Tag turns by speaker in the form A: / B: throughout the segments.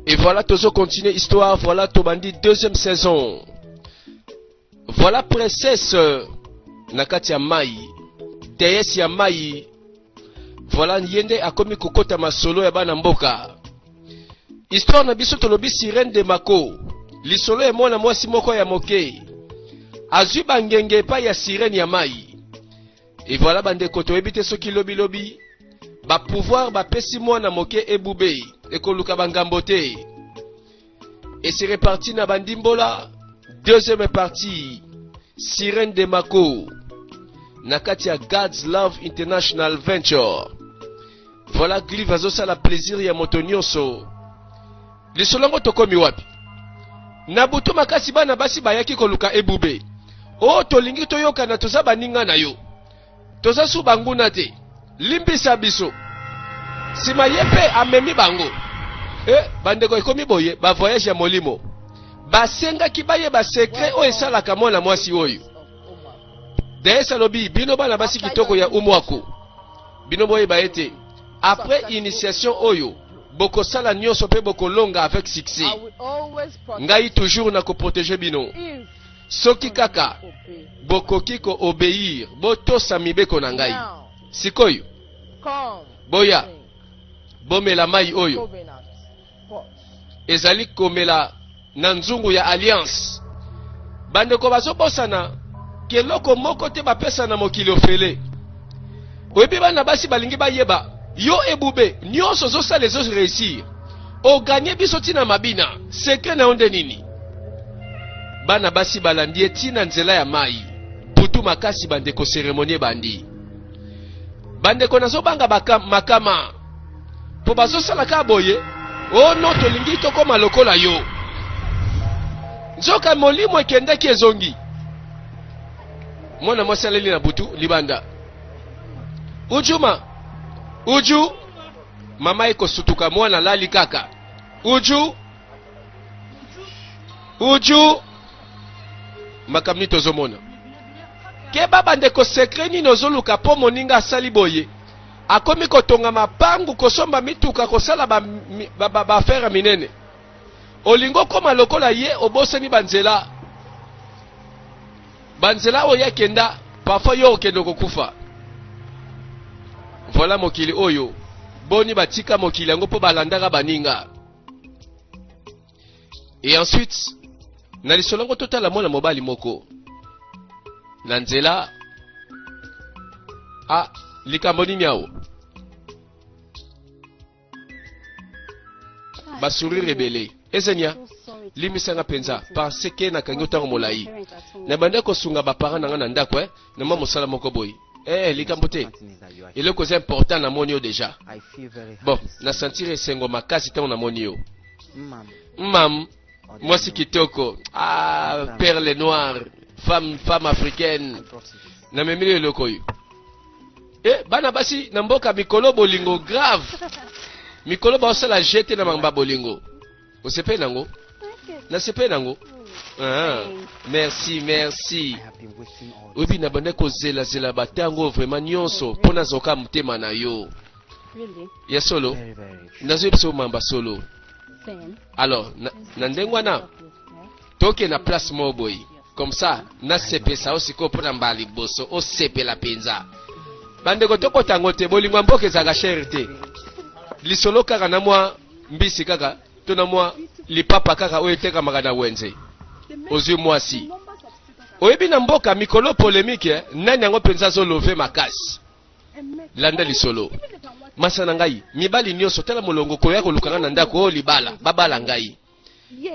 A: Et voilà, Tozo continue histoire. Voilà, Tobandi, deuxième saison. Voilà, princesse euh, Nakati Mai, déesse ya Mai. Voilà, Yende akomi kokota masolo ya bana mboka. Histoire na biso tolobi sirène de Mako. Lisolo ya mwana mwasi moko ya moke. Azwi bangenge epai ya sirène ya Mai. Et voilà bandeko toyebi te soki lobi lobi ba pouvoir bapesi mwana moke ebube ekoluka bangambo te et se reparti na bandimbola deuxième partie sirène de mako na kati ya God's Love International Venture voilà Glive azosala plaisir ya moto nyonso lisolo yango tokomi wapi na butu makasi bana basi bayaki koluka ebube o oh, tolingi toyokana toza baninga na yo toza su banguna te limbisa biso nsima ye mpe amemi bango e bandeko ekomi boye bavoyage ya molimo basengaki bayeba sekre oyo esalaka mwana mwasi oyo dayese alobi bino bana basi kitoko ya umwaku bino boyeba ete Après initiation oyo, bokosala nioso mpe bokolonga avec succès. Ngai toujours na ko protéger bino. Soki kaka bokoki ko obéir, botosa mibeko na ngai. Sikoyo, boya, bomela mai oyo. ezali komela na nzungu ya alliance bandeko bazobosana keloko moko te bapesa na mokili ofele oyebi bana basi balingi bayeba yo ebube nyonso ozosala ezo réussir oganye biso ntina mabina sekre na yo nde nini bana basi balandi ye ntina nzela ya mai butu makasi bandeko seremonie bandi bandeko nazobanga makama mpo bazosala kaka boye o oh no tolingi tokoma lokola yo nzoka molimo ekendaki ezongi mwana mwasi aleli na butu libanda ujuma uju mama ekosutuka mwana alali kaka uju uju makambo nini tozomona keba bandeko sekre nini ozoluka mpo moninga asali boye Akomi kotonga mapangu, kosomba mituka, kosala ba, ba, ba, ba affaire ya minene. Olingi okoma lokola ye, obosani banzela banzela oyo akenda, parfois yo okende kokufa. Voilà mokili oyo boni batika mokili yango mpo balandaka baninga. Et ensuite, na lisolo yango totala mwana mobali moko na nzela a likambo nini awo basurire ebele ezenia limisanga mpenza parce ke nakangi yo ntango molai nabanda kosunga baparent na ngai na ndako eh? na mwa mosala moko boye eh likambo te eloko eza important namoni yo deja bon na sentire esengo makasi ntango namoni yo mam mwasi kitoko ah, perle noire femme femme africaine namemeli yo eloko oyo eh, bana basi na mboka mikolo bolingo grave mikolo baosala jete na mangba bolingo Osepeli na yango? Nasepeli na yango. Ah, merci, merci. Oyebi na bande kozela zela ba tango vraiment nyonso mpo nazoka motema na yo. Ya solo. Nazoyebisa yo mamba solo. Alors, na, na ndenge wana Toke na place moko boye. Comme ça, na sepesa o sikoyo mpo na mbala liboso osepela mpenza. Bandeko tokota yango te, bolingo ya mboka ezalaka chere te. Lisolo kaka na mwa mbisi kaka to na mwa lipapa kaka oyo etekamaka na wenze. Ozwi mwasi. oyebi na mboka mikolo polemike eh? nani yango mpenza azolove makasi landa lisolo masa na ngai mibali nyonso tala molongo koya kolukanga na ndako oyo oh, libala babala ngai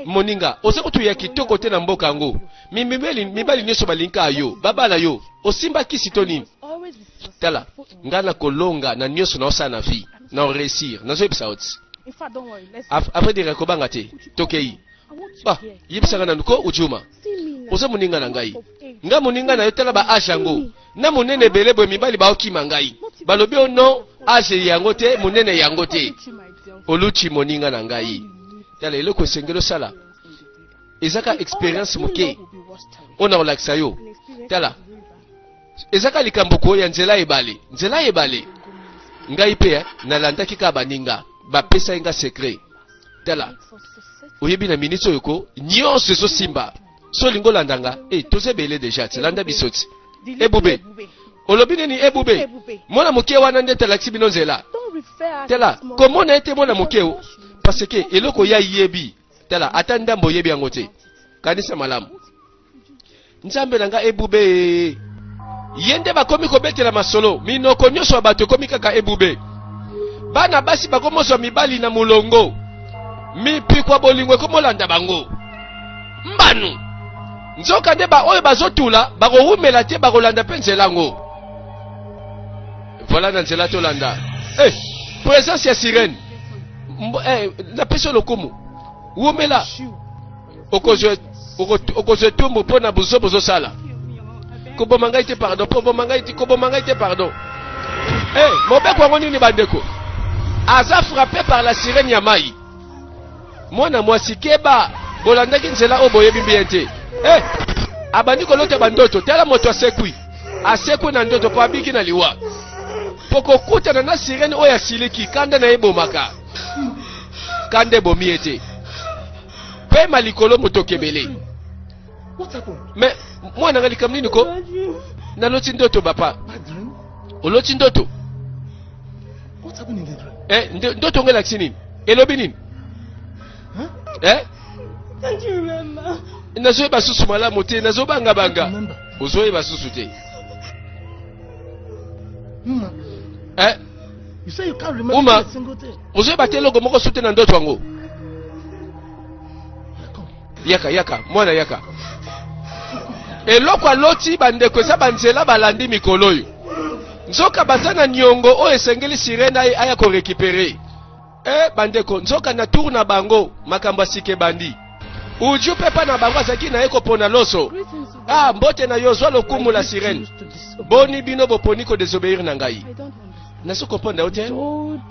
A: moninga oza kutu ya kitoko te na mboka yango mibali, mibali nyonso balingaa yo babala yo osimba kisi to nini tala ngai nakolonga na nyonso naosala na vie na oreusir nazoyebisa yo ti après dire kobanga te tokei ba yebisaka nanu ko ujuma oza moninga na ngai nga moninga na yo tala ba age yango na monene ebele boye mibali baokima ngai balobi o non age yango te monene yango te oluti moninga na ngai tala eloko esengeli osala ezaka experience moke oyo na kolakisa yo tala ezaka likambo koya nzela ebale nzela ebale ngai mpe eh, nalandaki kaka baninga bapesaki nga secret tala oyebi na miniti oyo ko nyonso ezosimba so olingi olanda nga e toza ebele deja ti landa biso ti ebube olobi nini ebube mwana moke wana nde talakisi bino nzela tala komona ete mwana moke o parce que eloko ya yebi tala ata ndambo oyebi yango te kanisa malamu nzambe na nga ebube ye nde bakomi kobetela masolo minoko nyonso ya bato ekomi kaka ebube bana basi bakomozwa mibali na molongo mipikwa bolingo ekomolanda bango mbanu nzoka nde baoyo bazotula bakowumela te bakolanda mpe nzela yango vola na nzela tolanda hey, eh, presence ya sirene hey, eh, napesi yo lokumu wumela okozwa etumbu mpo na bozo bozosala koboma ngai te pardon koboma ngai te koboma ngai te pardon hey, eh, mobeko yango nini bandeko aza frappe par la sirene ya mai mwana mwasi keba bolandaki nzela oyo boyebi bien te hey, eh, abandi kolota bandoto tala moto asekwi asekwi na ndoto mpo abiki na liwa mpo kokutana na sirene oyo asiliki kanda na ye ebomaka kanda ebomi ye te pema likolo motokebele me mwana nga likambo nini ko naloti ndoto bapa oloti ndoto eh, ndoto ngo elakisi nini elobi nini eh? nazoyeba susu malamu te nazobangabanga ozoyeba susu te eh? Uma, ozoyeba te eloko moko sute na ndoto yango. Yaka, yaka, mwana yaka. Eloko aloti bandeko eza banzela balandi mikolo oyo. Nzoka baza na niongo oyo esengeli sirene aya korekipere. Eh, bandeko, nzoka na tour na bango makambo ya sika ebandi. Uju pe pa na bango azalaki na ye kopona loso. Ah, mbote na yo, zwa lokumu la sirene. Boni bino boponi ko desobeir na ngai? Nazo kopona yo te?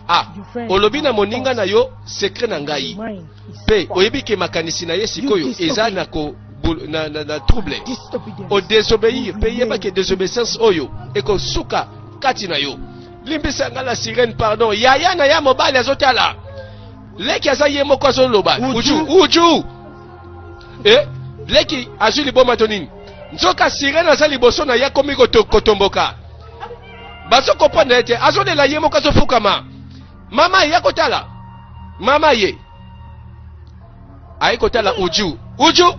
A: Ah, olobi na moninga na yo secret na ngai. Pe oyebi ke makanisi na ye sikoyo eza na ko na, na, na trouble o desobeir pe yeba ke desobedience oyo ekosuka kati na yo limbisa nga la sirene pardon yaya na ya mobali azotala leki aza ye moko azoloba uju uju eh? leki azwi liboma to nini nzoka sirene aza liboso na ye akomi kotomboka bazo kopanda ete azolela ye moko azofukama mama ye akotala mama ye aye kotala uju uju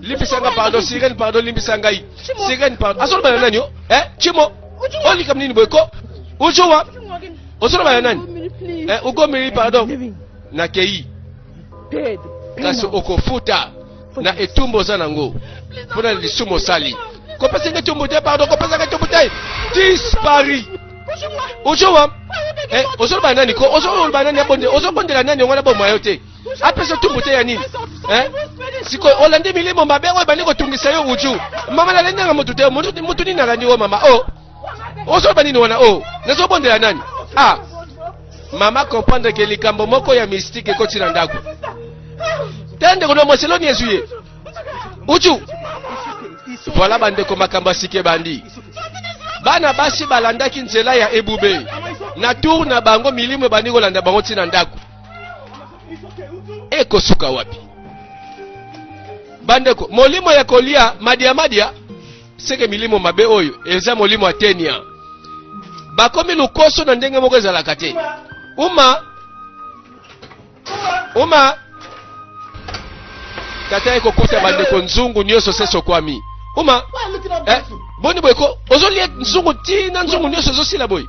A: limbisa nga pardon sirene pardon limbisa ngai sirene pardon azoloba na nani o eh chimo olikam nini boye ko ucuwa ozoloba na nani eh ugomeli pardon nakei kasi okofuta na etumbu oza nango mpo na lisumu osali kopesa ngai etumbu te pardon kopesa ngai etumbu te dispari ucuwa eh ozoloba na nani ko ozoloba na nani abonde ozobondela nani yango na bomwa yo te apesa tumbu te ya nini eh? sikoyo olandi milimo mabe oyo ebandi kotungisa yo uju mama nalandi nanga motu te motu nini nalandi oyo mama o oh. ozoloba nini wana o oh. nazobondela nani ah mama comprendre ke likambo moko ya mystike ekoti na ndako te ndeko na mwasi eloni ezwi ye uju voilà bandeko makambo asike bandi bana basi balandaki nzela ya ebube na tour na bango milimo ebandi kolanda bango ntina ndako ekosuka wapi bandeko molimo ya kolia madia madia seke milimo mabe oyo eza molimo ya tenia bakomi lokoso na ndenge moko ezalaka te uma uma tata ye kokota bandeko nzungu nyonso se sokwami oma eh, boni boye ko ozolia nzungu ti na nzungu nyonso ezosila boye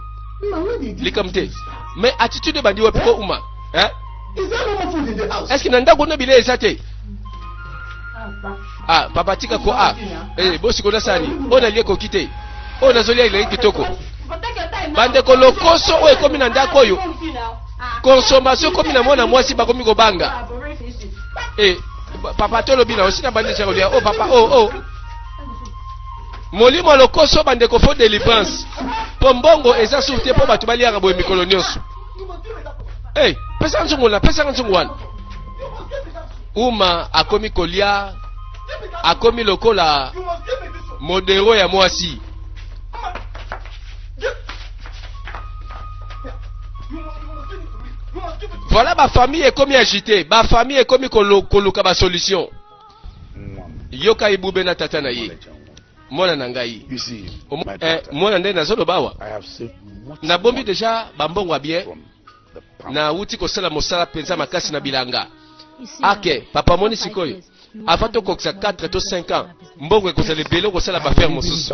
A: likambo te mais attitude ebandi wapi ko uma eh? est ce que na ndako na bilei eza te ah papa tika ko ah eh bosi kona sani oyo nalie koki te oyo nazolia eleki kitoko bandeko lokoso oyo ekomi na ndako oyo consommation komi na mwana mwasi bakomi kobanga eh, papa tolobi na osi na bandisa kolia o oh, papa o oh, o oh. molimo lokoso bandeko fo delivrance mpo mbongo eza sur te mpo bato baliaka boye mikolo nyonso hey, eh, pesaka nzungu wana pesaka nzungu wana uma akomi kolia akomi lokola modero ya mwasi Voilà ba famille ekomi agite, ba famille ekomi koluka ba solution. Yoka ibube na tata na ye. Mwana na ngai. Eh, mwana nde nazoloba awa. Nabombi deja bambongo ya bien. Nauti kosala mosala mpenza makasi na bilanga. Ake, papa moni sikoyo. avant tokokisa 4 to 5 ans mbongo ekozala ebele okosala bafere mosusu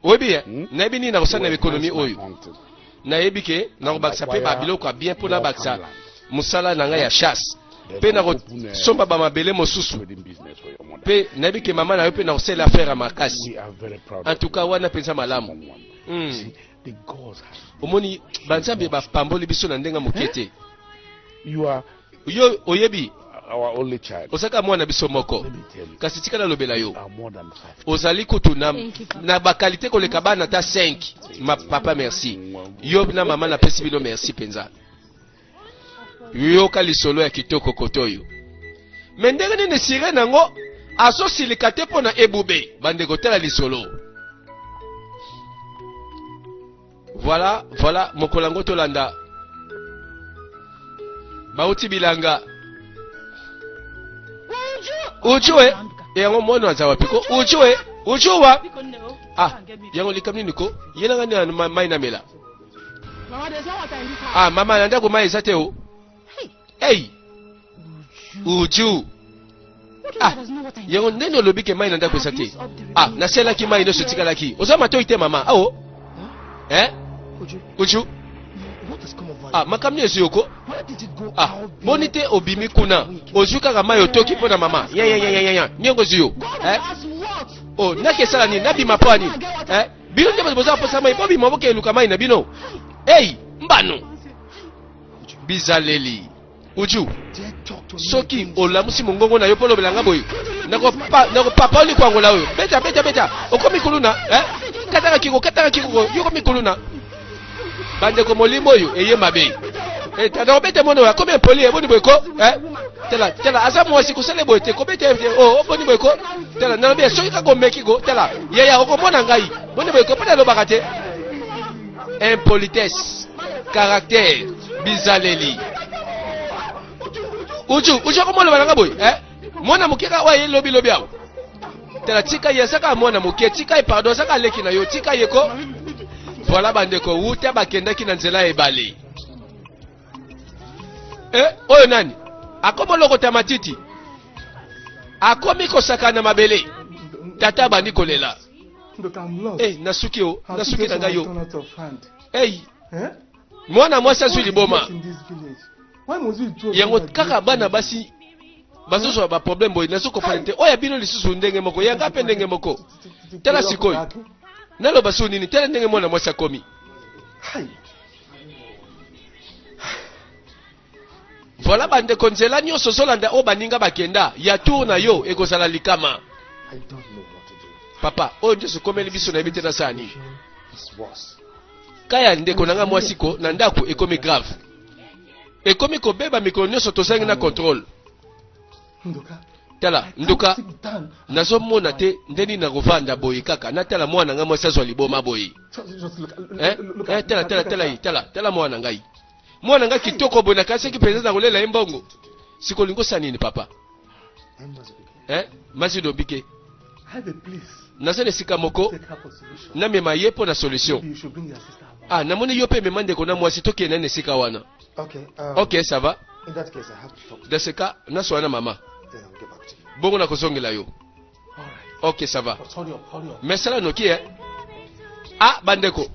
A: oyebi ye hmm? nayebi nini nakosala na ekonomi oyo nayebi ke nakobakisa mpe babiloko ya bien mpo nabakisa mosala na ngai ya chasse mpe nakosomba bamabele mosusu mpe nayebi ke mama na yo mpe nakosalela affaire ya makasi en tout cas wana mpenza malamu hmm. omoni banzambe bapamboli biso na ndenge moke te
B: Yo oyebi ozalaka mwana na biso moko,
A: kasi tika nalobela yo,
B: ozali kutu na,
A: na bakalite koleka bana ata 5 ma papa. Merci yo na mama, napesi bino merci mpenza. Yoka lisolo ya kitoko kotoyo me ndenge nini sirene yango azosilika te mpo na ebube bandeko tala lisolo Voilà, voilà, mokolo yango tolanda. Bauti bilanga. Uju e, yango mwana aza wapi ko? Uju e, uju wa. Ah, yango likamni niko, yena ngani mai na mela.
C: Ah, mama na ndako mai eza
A: te o. hey uju ah yango ndenge olobi ke mai na ndako eza te ah naselaki mai nyonso etikalaki oza matoi te mama ao oh. eh uju
C: ah makambo nini ezwi yoko
A: ah
C: boni te
A: obimi kuna ozwi kaka mai otoki mpo na mama yayayayaya niongo ezwi yo eh o oh, naki esala nini nabima mpo ya nini eh bino nde boza mposa mai bobima bokeluka mai na bino ei mbano bizaleli uju soki olamusi mongongo na yo mpo olobela nga boye nakopapa likwangola oyo beta beta beta okomi kuluna eh? kataka kiko kataka kiko yo okomi kuluna bandeko molimo oyo eye mabe eh, tata obeta mwana oyo akomi impoli eboni boye ko eh? tala tala aza mwasi kosala eboye te kobeta ye te o oh, oboni oh, boye ko tala nalobi soki kaka omeki ko tala yaya okomona ngai boni boye ko mpo nalobaka te impolitesse caractère bizaleli uju uju akoma oloba nanga boye eh? mwana moke kaka oyo aye lobilobi awa tala tika ye azaka mwana moke tika ye pardon azaka aleki na yo tika ye ko voilà bandeko wuta bakendaki na nzela ya ebale eh, oyo nani akoma olokota matiti akomi kosakana mabele tata abandi kolela Hey, nasuki yo nasuki na ngai yo hey. Eh? mwana mwasi azwi liboma yango kaka bana basi bazozwa baproblème boye nazo kofana te oyo ya bino lisusu ndenge moko yanga mpe ndenge moko tala sikoyo naloba so nini tala ndenge mwana mwasi akomi Voilà bandeko nzela nyonso ozolanda oyo baninga bakenda ya tour na yo ekozala likama papa oyo nde okomeli biso nayebi te nasala nini kaya ndeko na ngai mwasi ko na ndako ekomi grave ekomi kobeba mikolo nyonso tozangi na contrôle tala nduka nazomona te nde nini nakovanda boye kaka natala mwana na ngai mwasi azwa liboma boye eh, eh, tala tala tala ye tala tala mwana na ngai mwana nga kitoko boye nakasaki mpenza na kolela ye mbongo siko olingi osala nini papa eh? masi dobike naza na esika moko namema ye mpo na solution ah namoni yo mpe mema ndeko na mwasi tokende na esika wana ok um, ça va
C: dans ce cas naswana na
A: mama
C: bongo nakozongela yo ok ça va
A: mais
C: sala noki e
A: ah bandeko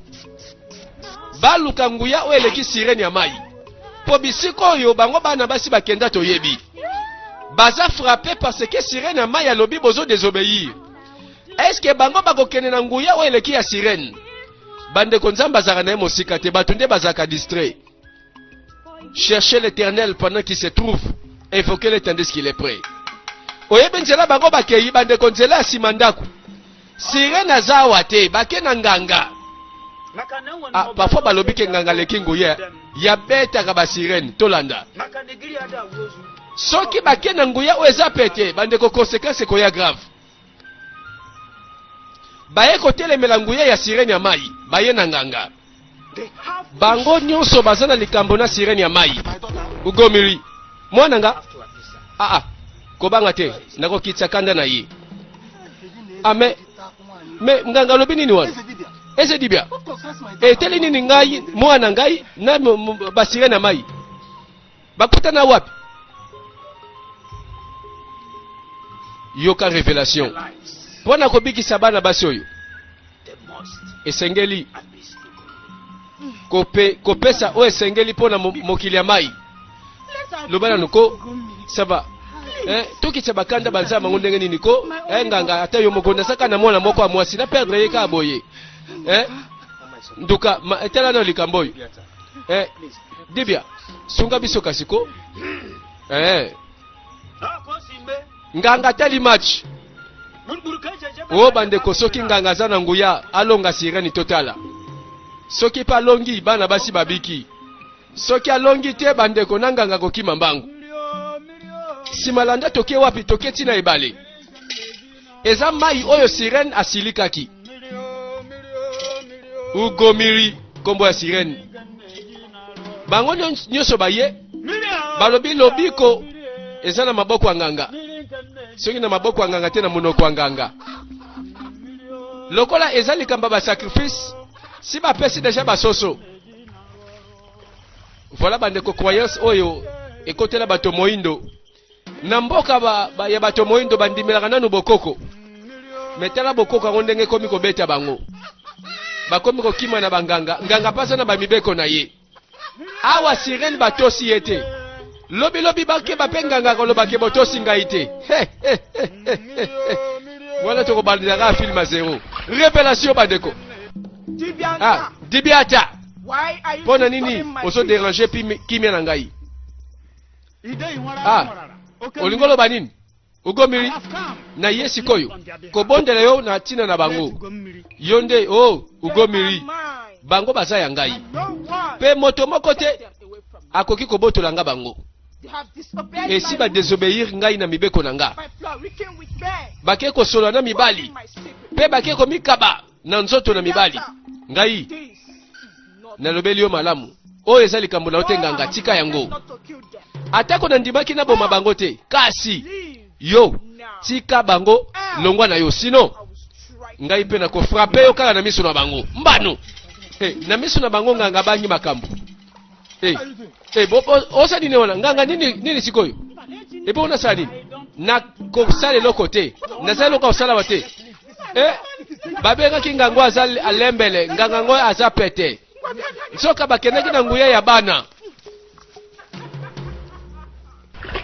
A: baluka nguya oyo eleki sirene ya mai mpo bisika oyo bango bana basi bakenda toyebi baza frappe parce que sirene ya mai alobi bozo désobéir est ce que bango bakokende na nguya oyo eleki ya sirene bandeko nzambe azalaka na ye mosika te bato nde bazalaka distrait Cherchez l'éternel pendant qu'il se trouve. Invoquez-le tandis qu'il est prêt. oyebi nzela bango bakei bandeko nzela ya nsima ndako sirene aza awa te bake na nganga ah, parfois balobi ke nganga aleki nguya ya betaka basirene tolanda soki bake na nguya oyo eza pete bandeko konsekanse ekoya grave baye kotelemela nguya ya sirene ya mai baye na nganga
C: bango nyonso baza
A: na likambo na sirene ya mai ugomili mwana nga aa ah, ah.
C: kobanga te
A: nakokitisa kanda na ye ame ah, me nganga alobi nini wana ese dibia eteli
C: nini ngai
A: mwana ngai na basirene ya mai bakutana wapi yoka revelation mpo na kobikisa bana basi oyo
C: esengeli kope, kopesa oyo
A: esengeli mpo na mokili ya mai loba nanu ko saba eh, tokitisa bakanda banzala bango ndenge nini ko eh, nganga ata yo moko nasaka na mwana moko ya mwasi na perdre ye kaka boye eh, nduka etala nayo likambo oyo eh, dibia sunga biso kasi ko eh. nganga atali match o oh, bandeko soki nganga aza na nguya alonga sireni totala soki mpe alongi bana basi babiki soki alongi te bandeko na nganga kokima mbangu nsima landa toke wapi toke ntina ebale eza mai oyo sirene asilikaki ugomiri nkombo ya sirene bango nyonso baye balobi lobiko eza na maboko ya nganga soki na maboko ya nganga te na monoko ya nganga lokola eza likambo ya basacrifice si bapesi deja basoso voilà bandeko croyance oyo ekotela bato moindo Na mboka ba, ba, ya bato moindo bandimelaka nanu bokoko, me tala bokoko yango ndenge ekomi kobeta bango, bakomi kokima na banganga. Nganga pasa na bamibeko na ye. Awa sirene batosi ye te, lobi lobi bakeba pe nganga akoloba ke botosi ngai te. Wana tokobandelaka film zero revelation bandeko. Ah, dibiata mpo
C: na nini ozo
A: deranger kimia
C: na
A: ngai? Ah, olingi oloba nini? Ogomili na ye sikoyo kobondela yo na ntina na bango. Yo nde o oh, ogomili bango baza ya ngai, mpe moto moko te akoki kobotola nga bango. esi badesobeyir ngai na mibeko na nga bake kosolola na mibali mpe bake komikaba na nzoto na mibali ngai Nalobeli yo malamu. Oyo eza likambo na yo te, nganga. Tika yango. Atako nandimaki naboma bango te, kasi yo tika bango longwa na yo, sino ngai mpe nakofrape yo kaka na miso na bango. Mbano hey, eh, na miso na bango nganga bangi makambo hey, eh, eh, hey, osali nini wana nganga nini, nini sikoyo epo onasala nini nakosalela eloko te nazali eloko ya kosalawa te eh, babengaki ngango aza alembele nganga yango aza pete nsoka bakendaki na nguya ya bana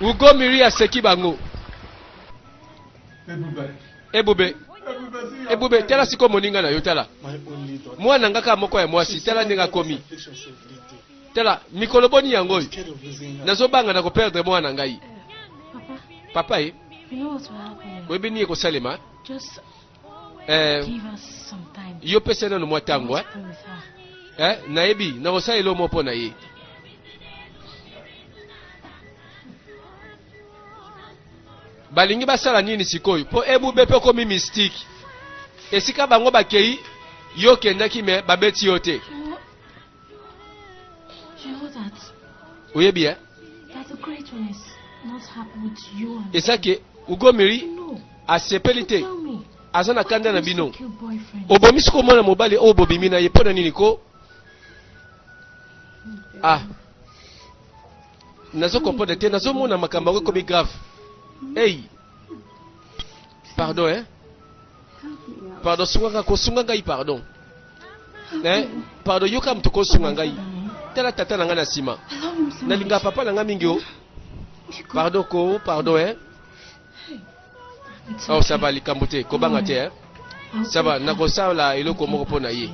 A: ugo miri aseki bango ebube ebube tala sikoyo moninga na yo tala mwana nga kaka moko ya mwasi tala ndenge akomi tala mikolo boni yango oyo nazobanga na koperdre mwana ngai papa ye
D: oyebi nini ekosalema eh, yo pesa nano mwa ntango
A: eh?
D: eh, nayebi nakosala
A: elo moko mpo na ye balingi basala nini sikoyo mpo ebube mpe okomi mystike esika bango bakei yo okendaki me babeti yo te
D: You know that. Oyebi eh? That
A: the great one
D: is not happy with you and Esa ke ugomiri
A: no.
D: asepeli te. Tell
A: me. Aza
D: na kanda na
A: bino. Obomisi
D: ko mwana mobali
A: oyo bobimi na ye mpo na nini ko? Ah. Nazo comprendre te, nazo mona makambo yango ekomi grave. Hey. Pardon hein. Pardon sunga nga ko sunga ngai pardon. Hein? Pardon yoka mtu ko sunga ngai. Tala tata na ngai na sima. Nalinga
D: papa na ngai mingi o.
A: Pardon ko pardon hein. Oh ça va likambo te ko banga te hein. Ça va
D: nakosala
A: eloko
D: moko
A: mpo na ye.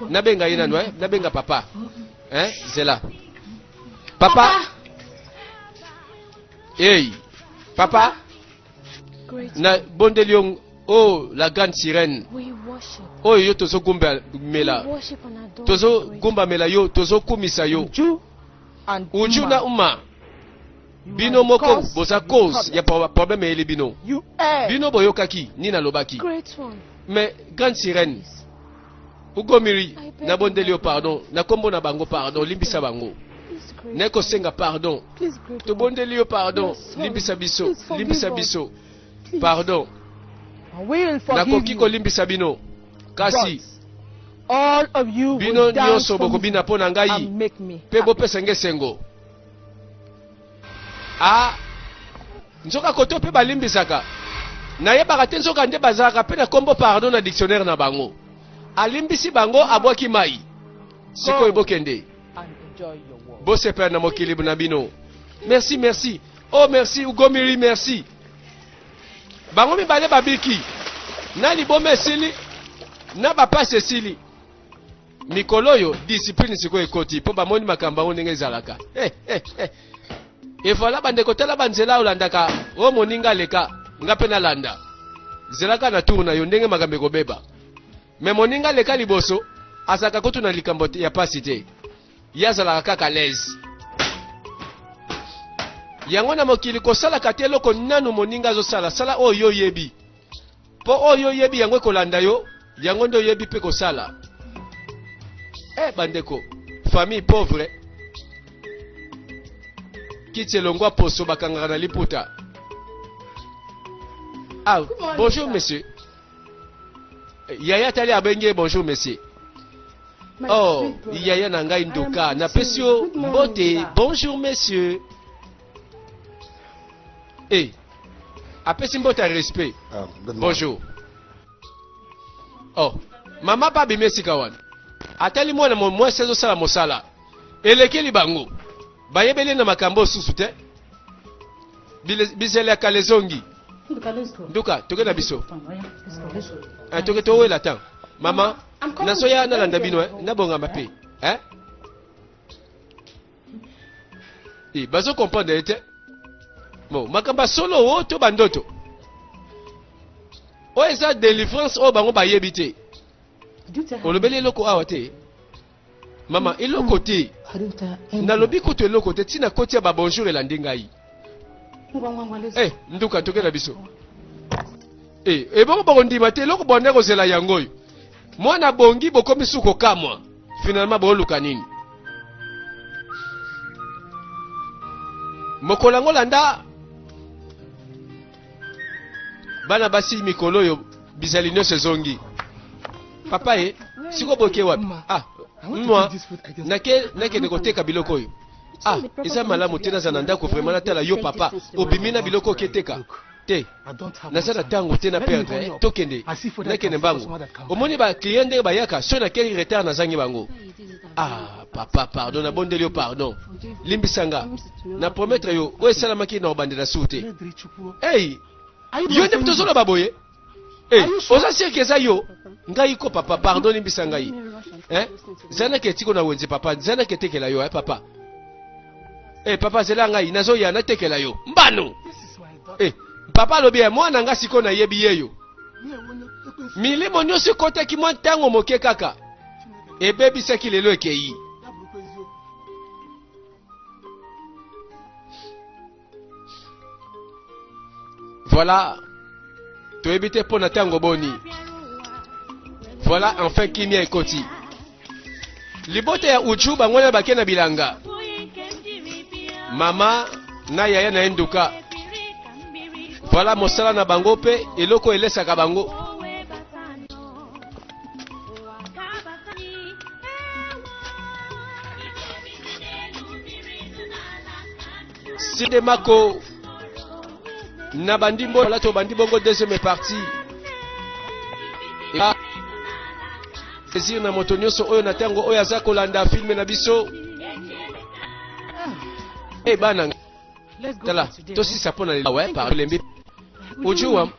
A: Nabenga ye nanu hein. Nabenga papa. Hein? Zela. Papa. Hey. Papa.
D: na bondeli
A: yo o oh, la grande sirène
D: oyo oh, yo
A: tozogumbamela
D: tozogumbamela
A: yo
D: tozokumisa
A: yo
C: uju na uma bino moko
A: boza
C: cause
A: ya
C: problème
A: eyeli bino bino boyokaki nini
C: alobaki
A: mais grande sirène ugomiri nabondeli yo pardon na nkombo na bango pardon limbisa bango naye kosenga pardon tobondeli yo pardon limbisa biso limbisa biso pardon nakoki kolimbisa bino kasi
C: bino nyonso
A: bokobina
C: mpo na ngai
A: mpe
C: bopesa ngai esengo
A: Ah, nzoka koto mpe balimbisaka nayebaka te nzoka nde bazalaka mpe na kombo pardon na dictionnaire na bango alimbisi bango abwaki mai sikoyo bokende
C: bosepela na mokili na
A: bino merci merci oh merci ugomiri merci bango mibale babiki na liboma esili na bapasi esili mikolo oyo discipline sikoyo ekoti mpo bamoni makambo yango ndenge ezalaka eh, eh, eh. evoila bandeko tala banzela olandaka o oh, moninga aleka nga mpe nalanda zelaka na tour na yo ndenge makambo ekobeba me moninga aleka liboso azalaka kutu na likambo ya mpasi te ye azalaka kaka lese yango na mokili kosalaka te eloko nanu moninga azosala sala oyo yo oyebi mpo oyo yo oyebi yango ekolanda yo yango nde oyebi mpe kosala eh bandeko famille pauvre kiti elongwa poso bakangaka na liputa ah bonjour monsieur eh, yaya tali abengi ye bonjour monsieur oh yaya na ngai nduka napesi yo mbote bonjour monsieur eh apesi mbote ya respect ah, bonjour oh mama mpe abimi esika wana atali mwana mwasi azosala mosala elekeli bango bayebeli na makambo osusu te bizele ya kala ezongi nduka toke na biso eh, toke towela ntango mama nazoya nalanda bino eh, nabongama mpe eh? e bazo comprendre ye te bon makambo ya solo o to bandoto oyo eza délivrance oyo bango bayebi te olobeli eloko awa te mama eloko te nalobi kutu eloko te ntina koti ya babonjour elandi ngai Eh, nduka tokela biso eh, ebongo bakondima te eloko bonde kozela yango oyo mwana abongi bokomi su kokamwa finalement booluka nini mokolo yango landa bana basi mikolo oyo bizali nyonso ezongi papa ye eh, sikoyo boke wapi ah mwa nakende koteka biloko oyo ah eza malamu te nazala na ndako vraimen natala yo papa obimi na biloko oketeka te naza na ntango te na perdre eh. tokende nakende mbangu omoni baclient ndenge bayaka soki nakei retard nazangi bango ah papa pardon nabondeli yo pardon limbisa nga na promettre yo oyo esalamaki na obandela sur te ei yo nde moto ozoloba boye Eh, oza seke eza yo ngai ko papa pardon limbisa ngai eh, zanaka etiko na wenze papa zanaka etekela yo eh, papa eh, papa zela ngai nazoya natekela yo mbano eh, papa alobi ya eh, mwana ngai sikoyo nayebi ye yo milimo nyonso ekotaki mwa ntango moke kaka ebebisaki lelo ekei Voilà. Tu es évité pour Natango Boni. Voilà enfin qui m'y a écouté. Libote ya Uju bangona bakena bilanga. Mama na yaya na enduka. Voilà mosala na bango pe eloko elesaka bango. Side Mako na bandi mbola lati obandi bongo deuxième partie eba plaisir na moto nyonso oyo na ntango oyo aza kolanda filme na biso e bana tala tosisa mpo na lelo we parlembi ojuwa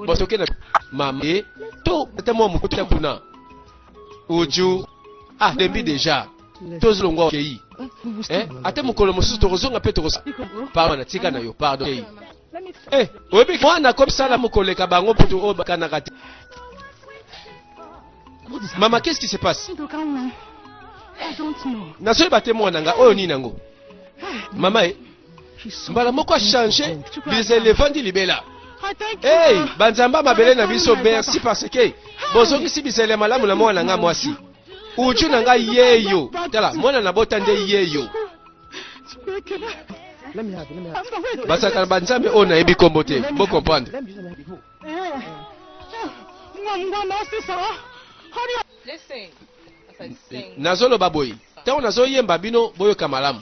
A: bosoke na mama ye to ata mwa mokuta kuna oju ah lembi deja tozi longwa okei eh, ate mokolo mosusu tokozonga mpe tokosa pardon na tika na yo pardon okei eh, oyebi mwana akomisala mokoleka bango mputu oyo bakanaka te mama qu'est-ce qui se passe nazoyeba te mwana nga oyo nini yango mama e mbala moko achange bizele evandi libela
C: hey banzambe ya mabele
A: na biso merci parce que bozongisi bizele ya malamu na mwana nga mwasi uju na ngai yeyo tala mwana na bota nde yeyo
C: basakana banzambe oyo
A: nayebi nkombo te bo comprendre
E: nazoloba boye
A: ntango nazoyemba bino boyoka malamu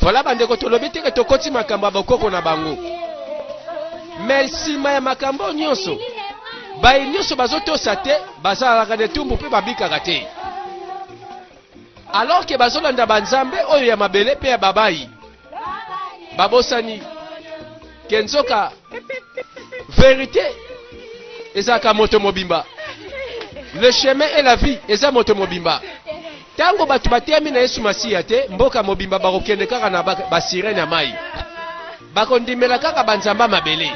A: Voilà bandeko tolobi teke tokoti makambo ya bokoko na bango me nsima ya makambo oyo nyonso baye nyonso bazotosa te bazalaka na etumbu mpe babikaka te alors ke bazolanda banzambe oyo ya mabele mpe ya babayi babosani ke nzoka verite ezalaka moto mobimba le chemin et la vie eza moto mobimba Tango bato bateyami na Yesu Masiya te, mboka mobimba bakokende kaka na basirene ya mayi. Bakondimela kaka banzambe ya mabele.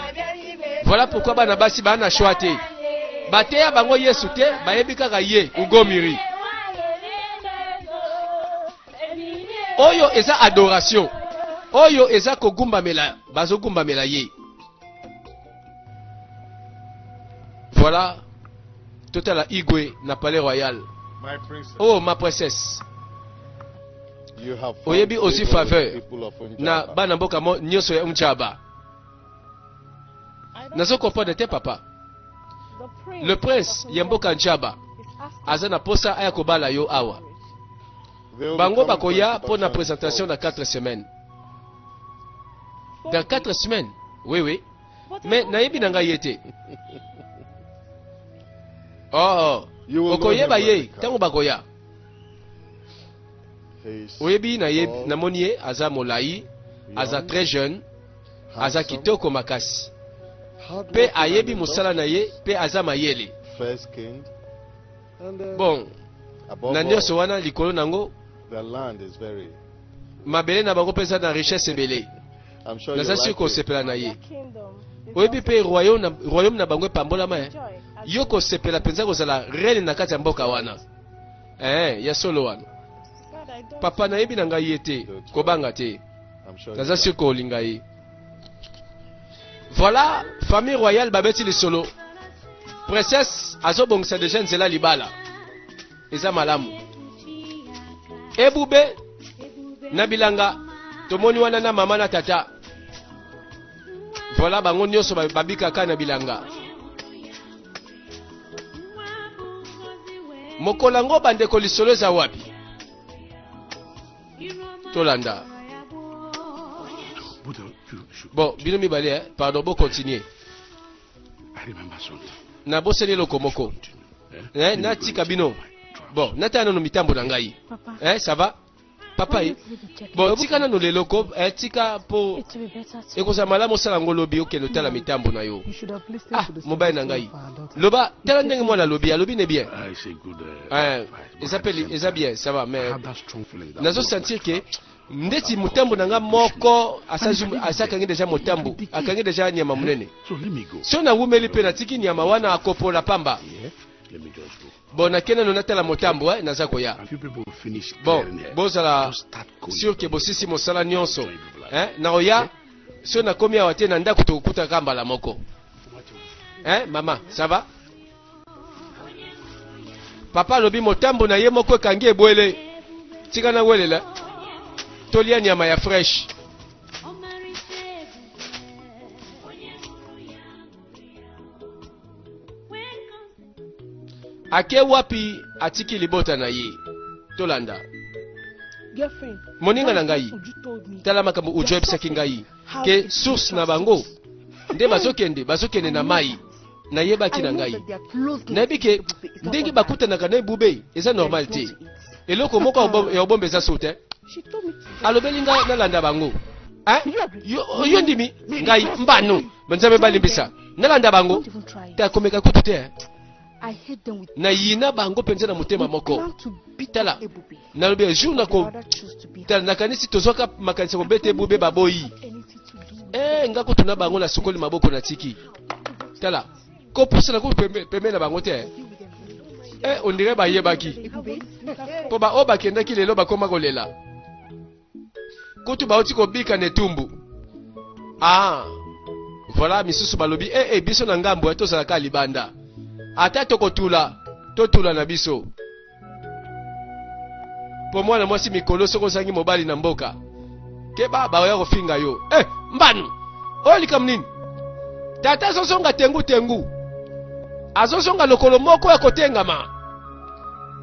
A: Voilà pourquoi bana basi baa na choix te. Bateya bango Yesu te, bayebi kaka ye, Ugomiri. Oyo eza adoration. Oyo eza kogumbamela, bazogumbamela ye. Voilà, total à Igwe na Palais Royal. My princess.
B: Oh, ma princesse. You have oyebi aussi faveur
A: na
B: bana mboka mo
A: nyonso ya Unjaba. Nazo comprendre te papa. Le prince ya mboka Njaba aza na posa aya kobala yo awa.
B: Bango bakoya pour na présentation
A: na 4
B: semaines.
A: dans 4 semaines oui oui mais nayebi na ngai ye te oh, oh. okoyeba
B: ye ntango
A: bakoya
B: oyebi
A: namoni ye aza molai aza très jeune aza kitoko makasi mpe
B: ayebi mosala
A: na
B: ye
A: mpe
B: aza
A: mayele
B: bon
A: na nyonso
B: wana likolo
A: na
B: yango mabele na
A: bango mpe eza na richesse ebele naza
B: sure kosepela na ye
A: oyebi mpe royaume na bango epambolama eh? yo kosepela mpenza kozala reine na kati ya mboka wana eh, ya solo wana papa nayebi na ngai ye te kobanga te naza sure
B: kolinga ye
A: Voilà, famille royale babeti lisolo. Princesse azobongisa deja nzela libala. Eza malamu. Ebube na bilanga tomoni wana na mama na tata. Voilà bango nyonso babikaka na bilanga. Mokolo yango bandeko lisolo eza wapi? tolanda bon bino mibale eh? pardon bo continuer
F: nabosani eloko
A: moko eh, natika bino bon natala nano mitambo na ngai eh, ça va papa ye bon tika nano lelo ko eh, tika mpo ekozala
D: malamu osala yango lobi
A: okende otala mitambo na yo ah
C: mobali na ngai
A: loba tala
C: ndenge mwana
A: alobi alobi ne bien ah, eh,
F: eza pe
A: eza bien ça va mais nazo
F: sentir que ndeti mutambu
A: na nga moko asakangi deja mutambu akangi deja nyama munene so
F: nawumeli mpe natiki
A: nyama wana akopola pamba
F: bon nakende no natala
A: motambo eh, naza koya
F: bon bozala
A: sur ke
F: bosisi mosala
A: nyonso eh, naoya so nakomi awa te na ndako tokokutaka mbala moko eh, mama ça va papa alobi motambo na ye moko ekangi ebwele tika na welela tolia nyama ya fresh ake wapi atiki libota na ye tolanda
C: moninga na ngai
A: tala
C: makambo ujo ayebisaki
A: ngai ke source na bango nde bazokende bazokende na mai nayebaki na ngai nayebi ke ndenge bakutanaka na ebube eza normal te eloko moko ya obomba eza sote
C: alobeli ngai nalanda
A: bango yo ndimi ngai mbano nzambe balimbisa nalanda bango te akomeka
C: kutu te nayina bango
A: mpenza na
C: motema moko tala nalobi
A: ya jour nako tala nakanisi tozwaka makanisi ya kobeta ebube baboyi e eh, nga kutu na bango nasukoli maboko natiki tala kopusana kutu pembeni na bango te e eh, ondire bayebaki mpo baoyo bakendaki lelo bakoma kolela kutu bauti kobika na etumbu ah voilà misusu balobi eh, eh biso na ngambo eh, tozalaka libanda ata tokotula totula na biso mpo mwana mwasi mikolo soki ozangi mobali na mboka keba baoya kofinga yo eh, mbanu oyo likambo nini tata azozonga tengu tengu azozonga lokolo moko ya kotengama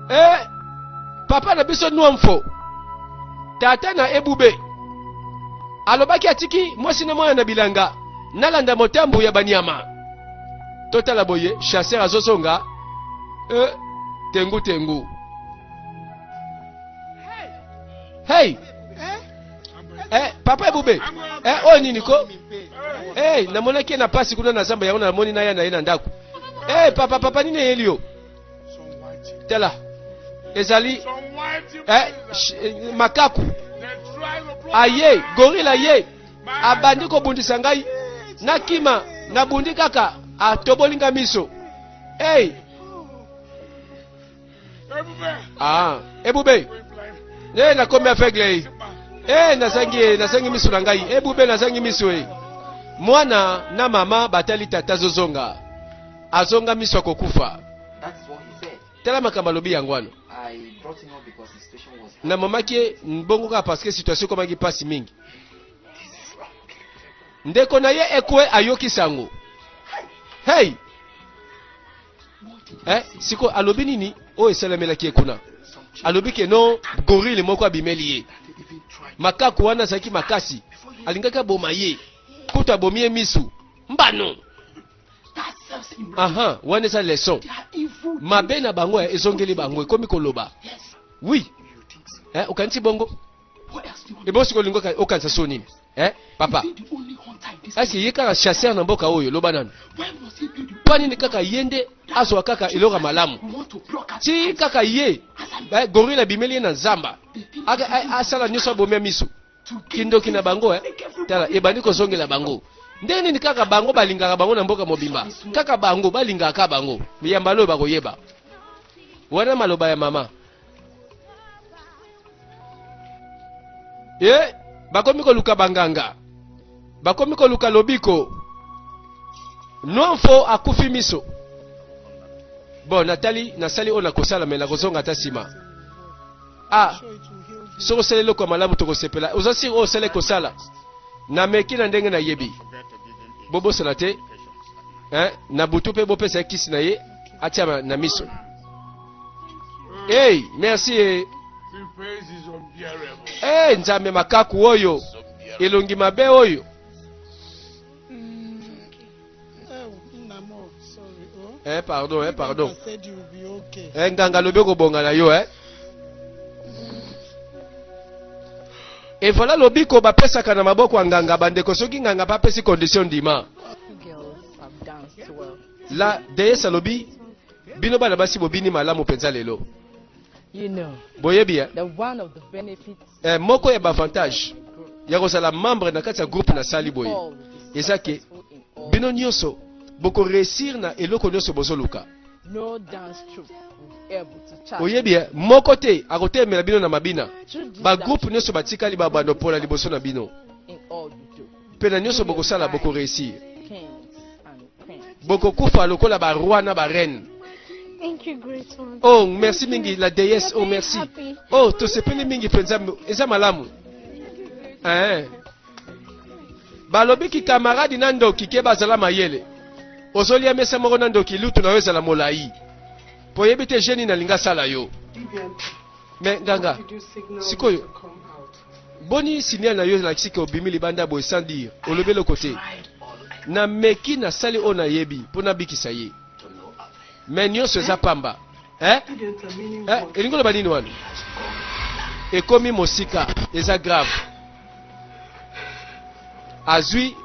A: eh, papa na biso nwamfo tata na ebube alobaki atiki mwasi na mwana na bilanga nalanda motambo ya banyama totala boye chasseur azozonga e tengu tengu hey eh, papa ebube eh, oyo nini ko hey, namonaki ye na pasi kuna na zamba yango namoni na ya na ye na ndako hey, papa papa nini eyeli yo tala ezali eh, eh, makaku aye gorila ye abandi kobundisa ngai nakima nabundi kaka atoboli nga miso hey. ah, ebube e nakomi aveugle e eh, nazangi ye nazangi miso na ngai ebube nazangi miso e mwana na mama batali tata zozonga Azonga miso ya kokufa. Tala makambo alobi yango wana. Namamaki ye bongo kaka parce que situation ekomaki mpasi mingi. Ndeko na ye ekwe ayoki sango. Hey! Eh, siko alobi nini? Oyo esalamelaki ye kuna. Alobi ke non, gorille moko abimeli ye. Makaku wana azalaki makasi. Alingaki aboma ye. Kutu abomi ye misu. Mbano! aha wana eza leson mabe na bango eh, ezongeli bango ekomi koloba wi eh, okanisi bongo ebosi kolingo okanisa so nini eh, papa asi ye kaka chasseur na mboka oyo loba nanu mpo nini kaka ye nde azwa kaka eloko ya malamu ti kaka ye eh, goril abimeli ye na zamba asala nyonso abomia miso kindoki na bango eh? tala ebandi kozongela bango ndenge nini kaka bango balingaka bango na mboka mobimba kaka bango balingaka ka bango yamba loyo bakoyeba wana maloba ya mama e bakomi koluka banganga bakomi koluka lobiko nwanfo akufi miso bon natali nasali oyo nakosala me nakozonga ata nsima Ah, soki osali eloko ya malamu tokosepela. Oza siri oyo osali kosala? Nameki na ndenge nayebi. Bobosana te, eh, na butu mpe bopesa ye kisi na ye atia na miso. Hey, merci. Eh. Hey, Nzambe makaku oyo elongi mabe oyo Eh pardon, eh pardon. Eh nganga lobi kobonga na yo eh. Et voilà lobiko bapesaka na maboko ya nganga bandeko soki nganga bapesi condition ndima. La déesse alobi bino bana basi bobini malamu penza lelo. You know, boyebi eh? eh, moko ya baavantage ya kozala membre na kati ya groupe nasali boye eza ke bino nyonso bokoreusir na eloko nyonso bozoluka no dance troupe oyebi ye moko te akotelemela bino na mabina bagroupe nyonso batikali babando mpola liboso na bino mpe na nyonso bokosala boko reusir bokokufa lokola ba roi na ba reine Thank you,
C: great one. oh merci mingi
A: la déesse oh merci Happy. oh tosepeli mingi mpenza eza malamu eh. balobi kikamaradi na ndoki ke bazala mayele ozolia mesa moko na ndoki lutu na yo ezala molai mpo oyebi te jeni nalinga asala yo me nganga sikoyo Boni signal na yo elakisi ke obimi libanda boye sans dire olobi eloko te. Nameki nasali oyo nayebi mpo nabikisa ye, me nyonso eza pamba eh? Eh, elingi oloba nini wana? Ekomi mosika, eza grave. Azwi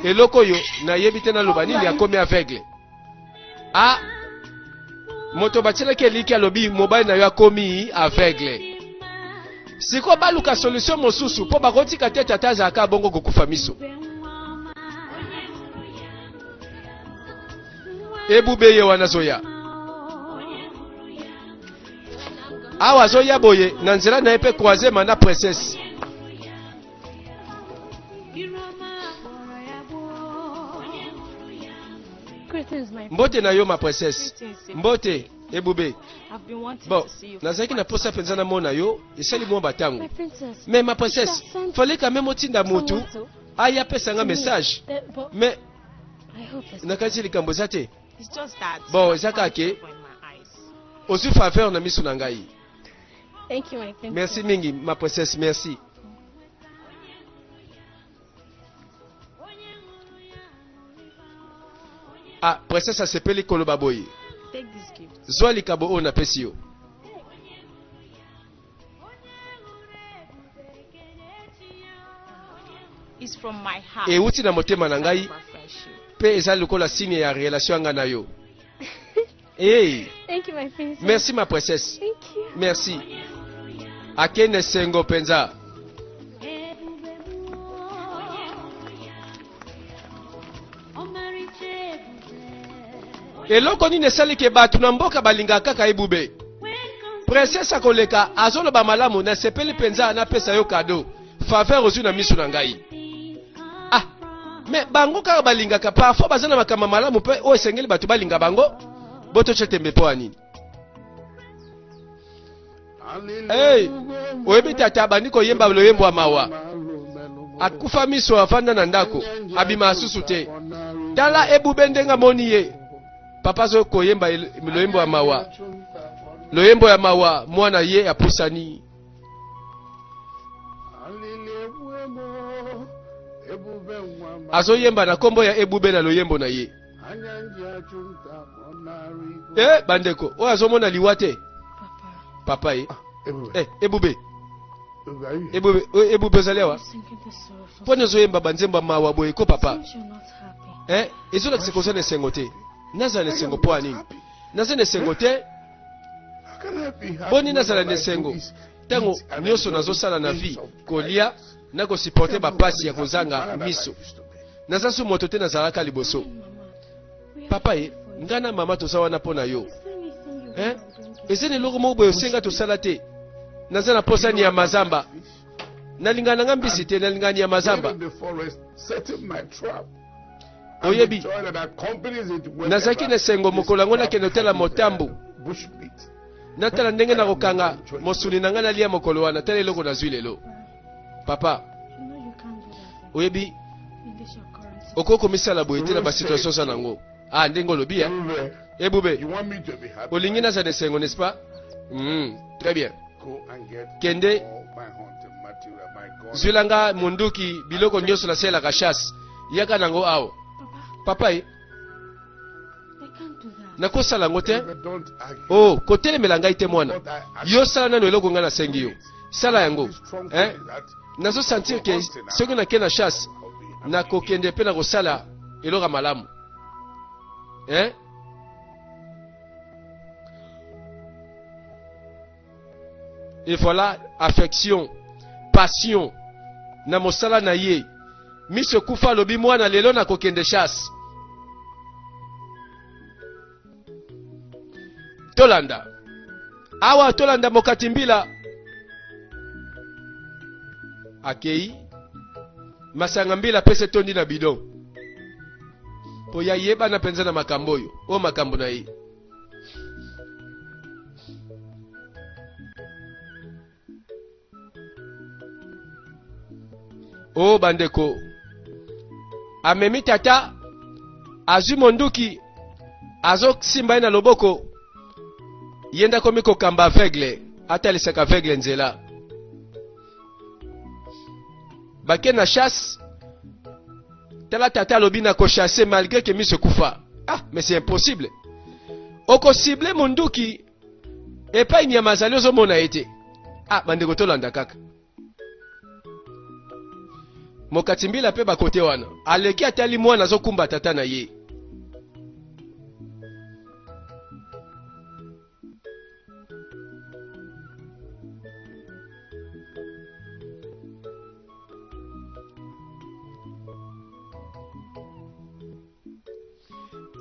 A: eloko oyo nayebi te naloba nini, akomi aveugle. ah moto batyelaki eliki alobi mobali na yo akomi aveugle sikoyo baluka solution mosusu mpo bakotika te tata azalaka bongo kokufa miso ebube ye wana azoya awa azoya boye na nzela na ye mpe croisema na princesse mbote na yo ma princesse mbote ebube bon nazalaki na mposa mpenza namona yo esali mwa batango mais ma princesse fallait quand même otinda motu aya apesa nga message mais nakanisi likambo eza te bon eza kaka ke ozwi faveur na miso na ngai
C: merci mingi ma
A: princesse merci Ah, princesse asepeli koloba boye
E: zwa likabo oyo
A: napesi yo
E: euti na motema na ngai
A: mpe
E: eza lokola
A: signe ya relation ya ngai na yo Hey. Thank you, my princess.
C: Merci ma princesse. Thank
A: you. Merci. Akende sengo penza. eloko nini esali ke bato na mboka balingaka kaka ebube princese akoleka azoloba malamu nasepeli mpenza napesa yo kado faveur ozwi na miso na ngai ah me bango kaka balingaka parfois baza na makambo malamu mpe oyo esengeli bato balinga bango bototya tembe mpo ya nini hey, oyebi tata abandi koyemba loyembo ya mawa akufa miso afanda na ndako abima asusu te tala ebube ndenge amoni ye papa azo koyemba loyembo ya mawa loyembo ya mawa mwana ye apusani azoyemba na nkombo ya ebube na loyembo na ye e bandeko oyo azomona liwa te papa ye e ebube ebube ebube ozali awa mpo nini ozoyemba banzembo ya mawa boye ko papa e ezolakisa kozala na esengo te nazala na esengo mpo ya nini naza na esengo te Boni nazala na esengo ntango nyonso nazosala na vie kolia na kosiporte bapasi ya kozanga miso naza su moto te nazalaka liboso papa ye ngai na mama toza wana mpo na yo eh? eza na eloko moko boye osenga tosala te naza na mposa ni ya mazamba nalingana na ngai mbisi te nalingani ya mazamba Oyebi, nazalaki na esengo mokolo yango nakende kotala motambo natala ndenge nakokanga mosuni na ngai nalia mokolo wana tala eloko nazwi lelo papa oyebi okoki komisala boye te na basituation oza nango a ah, ndenge olobi ya ebube eh, olingi naza na esengo n'est-ce pas mm, très bien kende zwila nga monduki biloko nyonso nasalelaka chasse yaka na yango awa papa ye nakosala yango te o oh, kotelemela ngai te mwana yo sala nano eloko ngai nasengi yo sala yango eh? nazosentir ke soki nake na chasse nakokende mpe nakosala eloko ya malamu eh? et voilà affection passion na mosala na ye miso ekufa alobi mwana lelo na kokende chasse tolanda awa tolanda mokati mbila akei masanga mbila apesi etondi na bidon mpo ya yebana mpenza na makambo oyo oyo makambo na ye o oh, bandeko amemi tata azwi monduki azosimba ye na loboko ye nde akomi kokamba aveugle atalisaka aveugle nzela bake na chasse tala tata alobi na kochasse malgré que miso ekufa ah mais c'est impossible okosible monduki epai nyama azali ozomona ye te ah bandeko tolanda kaka mokati mbila mpe bakote wana aleki atali mwana azokumba tata na ye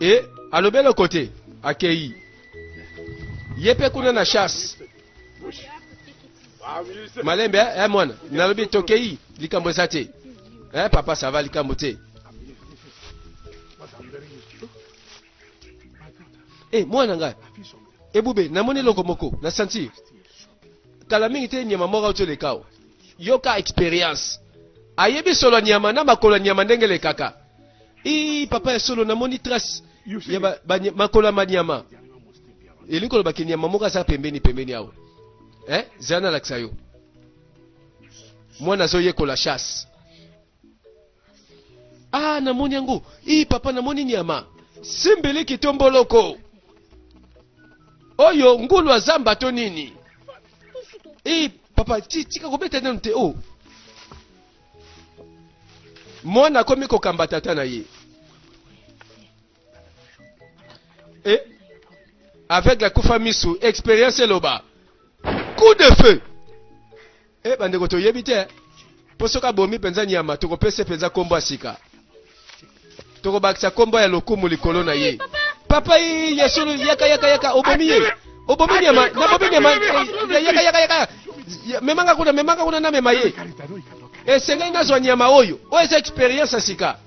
A: e alobi eloko te akei ye mpe kuna na chasse malembe eh, eh mwana nalobi tokei likambo eza te eh papa sava likambo te Eh, mwana ngai ebube namoni eloko moko na santi kala mingi te nyama moko auti oleka awa yoka experience ayebi solo ya nyama na makolo ya nyama ndenge elekaka ii papa ya solo namoni trace ya ba, ba, makolo ya banyama elingi koloba ke nyama moko aza pembeni pembeni awa eh? zala nalakisa yo mwana azoyekola chasse Ah, namoni yango. Ii papa namoni nyama. Simbeleki to mboloko. Oyo ngulu ya zamba to nini? Ii papa tika kobeta nanu te. Oh. Mwana akomi kokamba tata na ye. eh, avec la kufa misu experience eloba coup de feu eh, bandeko toyebi te eh. mpo soki abomi mpenza nyama tokopesa mpenza nkombo ya sika tokobakisa nkombo ya lokumu likolo na ye papa ye ya solo yaka yaka yaka obomi ye obomi nyama nabomi nyama eh, yaka yaka yaka memanga kuna memanga kuna namema ye esengeli nazwa nyama oyo oyo eza experience ya sika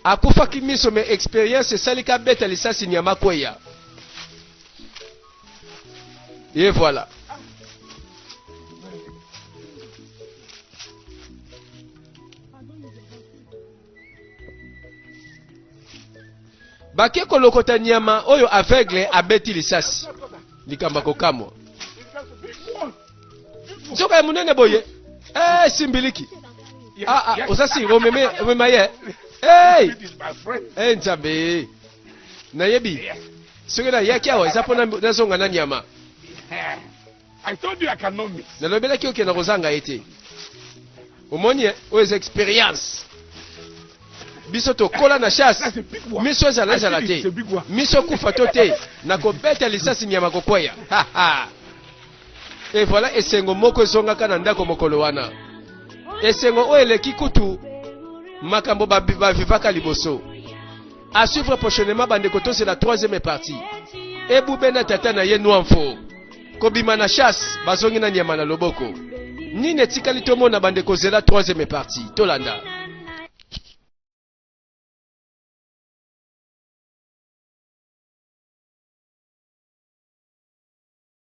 A: akufaki miso me experience esali ka beta lisasi nyama kweya ye voilà bake kolokota nyama oyo aveugle abeti lisasi likambo ya kokamwa nzoka ya monene boye eh, simbiliki ah, ah, oza si omeme omema ye hey! hey, eh, nzambe nayebi soki nayaki awa eza mpo nazonga na nyama
F: nalobelaki oke na kozanga
A: ye te omoni ye oyo eza experience biso tokola na chasse miso ezala ezala te miso kufa to te na kobeta lisasi nyama kokweya Et voilà esengo moko ezongaka na ndako mokolo wana. Esengo oyo eleki kutu makambo bavivaka liboso. À suivre prochainement bandeko tozela troisième partie. Ebube na tata na ye Nwamfo kobima na chasse bazongi na nyama na loboko. Nini etikali tomona bandeko zela troisième partie tolanda.